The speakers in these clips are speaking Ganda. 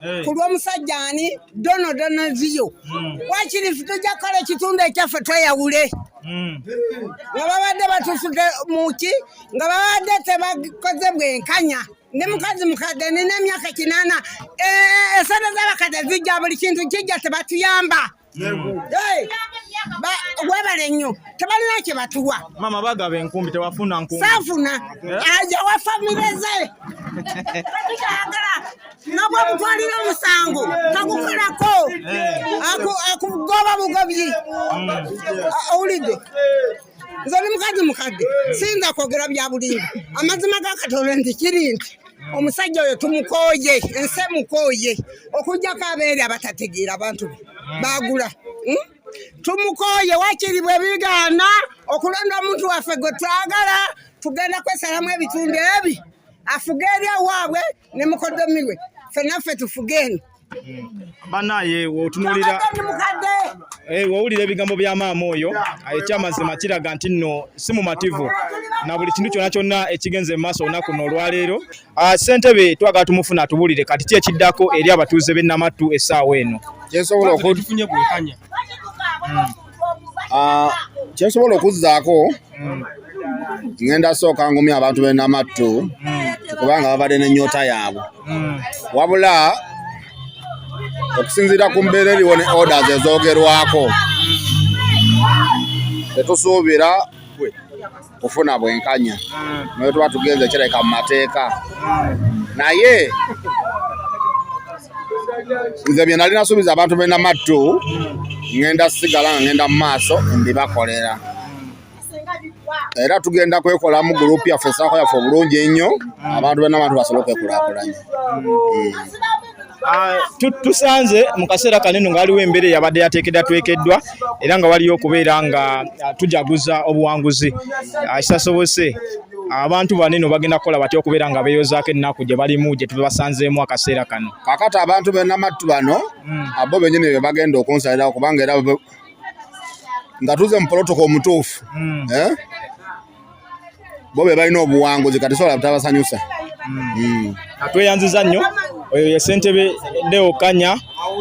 eh. ku lw'omusajja ani dono dono ziyo hmm. wakiri fe tujja kukola ekitundu ekyaffe tweyawule hmm. nga babadde batusude muki nga babadde tebakoze bwenkanya ndi mukazi mukadde nina emyaka kinana eh, esente z'abakadde zijja buli kintu kijja tebatuyamba webale nnyo tebalina kye batuwa mama bagaba enkumbi tewafuna nkumbi saafuna aja wa famire ze tukyagala nabwe mutwalira omusango tagukolako akugoba bugobyi owulidde nze ni mukazi mukadde siyinza kwogera bya bulimba amazima ga katonda nti kiri nti omusajja oyo tumukooye ensi emukooye okujjako abeere abatategeera abantu be baagula hmm? tumukooye wakiri bwe bigaana okulonda omuntu waffe gwe twagala tugenda kwesalamu ebitundu ebi afuge eri awaabwe ne mukodomi we fenaffe tufuge eno banaye wotunulira eh, wowulira ebigambo bya maama oyo ekyamazima kiraga nti nno si mumativu na buli kintu kyona kyonna ekigenze mu maaso olunaku no olwaleero ah, ssentebe twagala tumufuna atubulire kati ki ekiddako eri abatuuze b'e namattu essaawa eno kyensobola okufunye bwekanya hmm. ah, kyensobola okuzzaako mm. ngenda sooka ngumya abantu benamattu mm. kubanga babadde nenyota yaabwe mm. wabula okusinziira ku mbeera eriwo ne orders ezoogerwako tetusuubira kufuna bwenkanya naye tuba tugenze kireka mu mateeka naye nze bye nali nasuubiza abantu bena mattu ngenda sigala nga ngenda mu maaso mbibakolera era tugenda kwekolamu gurupu yaffe esaako yaffe obulungi ennyo abantu bena bantu basobole okwekulakulanya hmm. Ah, tusanze mu kaseera kaneno nga waliwo embeera eyabadde yateekedwa twekeddwa era nga waliyo okubeera nga ah, tujaguza obuwanguzi ah, kisasobose abantu banene bagenda kukola batya okubeera nga beeyozaako ennaku gye balimu gye tubasanzeemu akaseera kano kakati abantu benamattu bano hmm. abo benyini be bagenda okunsalirawo kubanga era nga tuze mu polotoko omutuufu hmm. eh? bo be balina obuwanguzi kati sobola butabasanyusa hmm. Hmm. tweyanziza nnyo oyo ye ssentebe deo kanya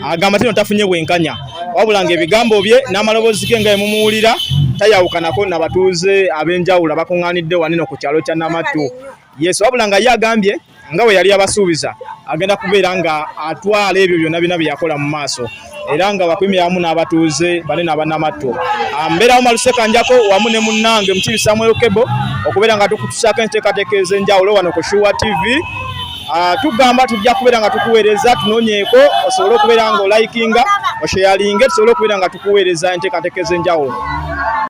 agamba tino tafunye bwenkanya wabula nga ebigambo bye n'amaloboozi ge nga emumuwulira tayawukanako nabatuuze ab'enjawulo abakuŋŋaanidde wanino ku kyalo kya namattu Yesu wabula nga ye agambye nga bwe yali abasuubiza agenda kubeera nga atwala ebyo byonna byonna bye yakola mu maaso era nga wakuimira wamu n'abatuuze bane n'abanamatto ah, mbeerawo malusekanjako wamu ne munnange mukibi samuel kebo okubeera nga tukutusaako enteekateeka ez'enjawulo wano ku shuwa tv ah, tugamba tujja kubeera nga tukuweereza tunonyeeko osobole okubeera nga olayikinga osheyalinge tusobole okubeera nga tukuweereza enteekateeka ez'enjawulo